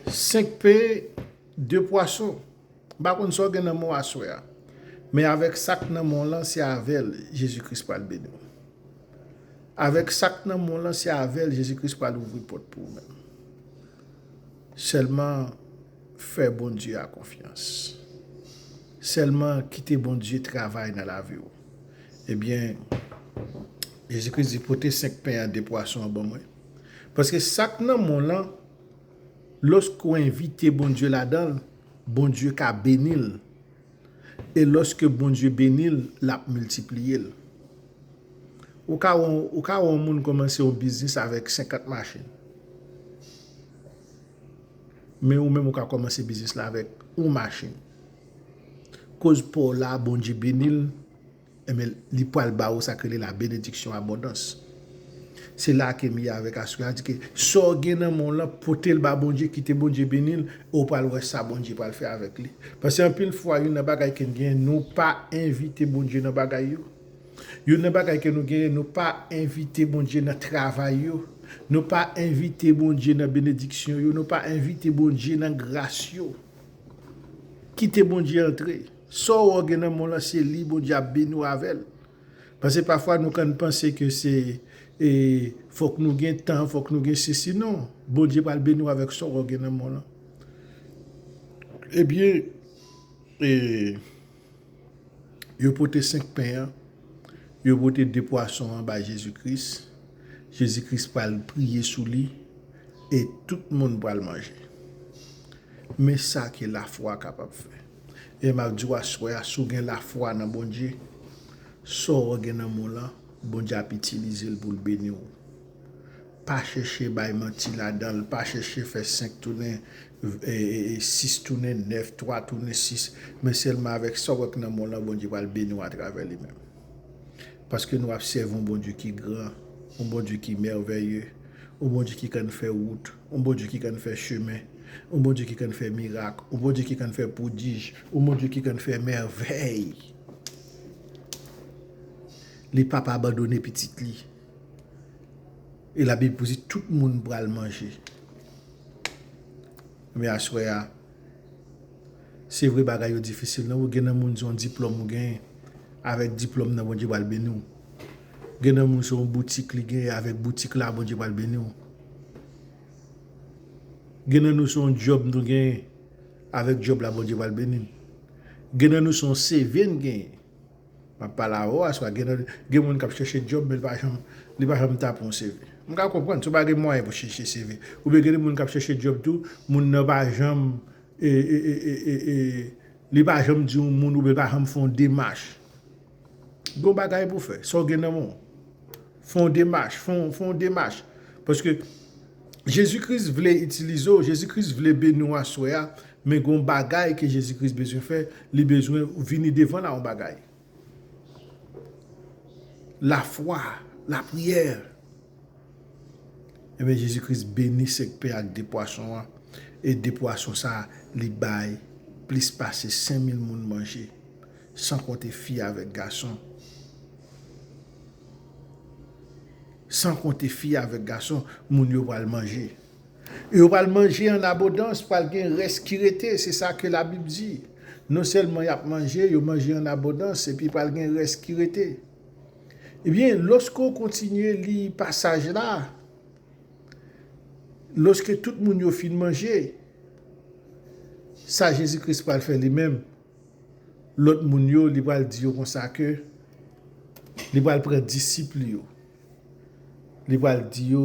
5 pe de pwason. M pa konn sa w gen nan men w aswè a. Men avèk sa k nan men w lan, se avè l Jezi Kris pral beni w. Avèk sa k nan men w lan, se avè l Jezi Kris pral ouvri pòt pou ou menm. Sèlman fè Bondye a konfyans. Sèlman kite Bondye travay nan lavi w. Ebyen, Jezi Kris di, pote 5 pen an, 2 pwason an ban mwen. Paske sa k nan mond lan, lòske w envite Bondye ladan l, Bondye ka beni l. E lòske Bondye beni l, l ap miltipliye l. Ou ka wè yon moun kòmanse yon biznis avèk 50 machin. Men ou menm ou ka kòmanse biznis la avèk yon machin. Koz pa w la, Bondye beni l. Enben, li pral ba ou sa k rele la benediksyon abondans. Se la a ke Miya avèk Aswila di ke sa w gen nan men w lan, pote l ba Bondye, kite Bondye beni l, e w pral wè sa Bondye pral fè avèk li. Paske anpil fwa, youn nan bagay ke n genyen, nou pa envite Bondye nan bagay yo. Youn nan bagay ke nou genyen, nou pa envite Bondye nan travay yo. Nou pa envite Bondye nan benediksyon yo. Nou pa envite Bondye nan gras yo. Kite Bondye antre. Saw wè w gen nan menw lan se li Bondye ap beni w avèl paske pafwa nou kan panse ke se fok nou gen tan fok nou gen sesi non Bondye pral beni w avèk sa w gen nan menw lan ebyen e yo pote 5 pen an yo pote 2 pwason an bay Jezi Kris Jezi Kris pral priye sou li e tout moun pral manje men sa ke lafwa kapab fè. E map diw aswè a si w gen lafwa nan Bondye, sa w gen nan men w lan Bondye ap itilize l poul beni w. Pa chèche bay manti ladan l, pa chèche fè 5 tounen 6 tounen 9, 3 tounen 6, men sèlman avèk sa w wè k nan men w lan Bondye pral beni w atravè li menm. Paske nou ap sèvi yon Bondye ki gran, yon Bondye ki mèvèye, yon Bondye ki kann fè wout. Yon Bondye ki kann fè chemen, yon Bondye ki kann fè mirak, yon Bondye ki kann fè pwodij, yon Bondye ki kann fè mèvèy. Li p ap abandone pitit li. E Labib pou di tout moun pral manje. Ebyen aswè a, se vre bagay yo difisil nan gen nan moun se yon diplòm ou genyen, avèk diplòm nan Bondye pral beni w. Gen nan moun se yon boutik li genyen, avèk boutik la Bondye pral beni w. Gen nan nou se yon djòb nou genyen, avèk djòb la Bondye pral beni n. Gen nan nou se yon CV n genyen. M ap pale avè w aswè, gen moun k ap chèche djòb men li pa janm tape yon CV. M ka konprann si w pa gen mwayen pou w chèche CV. Oubyen gen moun k ap chèche djòb tou, moun nan pa janm e, li pa janm di yon moun oubyen li pa janm fè yon demach. Gen yon bagay pou w fè, sa w gen nan men w. Fè yon demach, fè yon demach. Paske Jezi Kris vle itilize w, Jezi Kris vle beni w aswè a, men gen yon bagay ke Jezi Kris bezwen fè, li bezwen ou vini devan l a yon bagay. Lafwa, lapriyè. Enben Jezi Kris beni sek pen ak de pwason an, e de pwason sa li bay plis pase 5000 moun manje. San konte fi avèk gason. San konte fi avèk gason, moun yo pral manje. E yo pral manje an abondans, pral gen rès ki rete, se sa ke Labib di. Non sèlman y ap manje, yo manje an abondans, epi pral gen rès ki rete. Ebyen, lòske w kontinye li pasaj la, lòske tout moun yo fin manje, sa Jezi Kris pral fè li menm? Lòt moun yo, li pral di yo konsa ke li pral pran disip li yo, li pral di yo.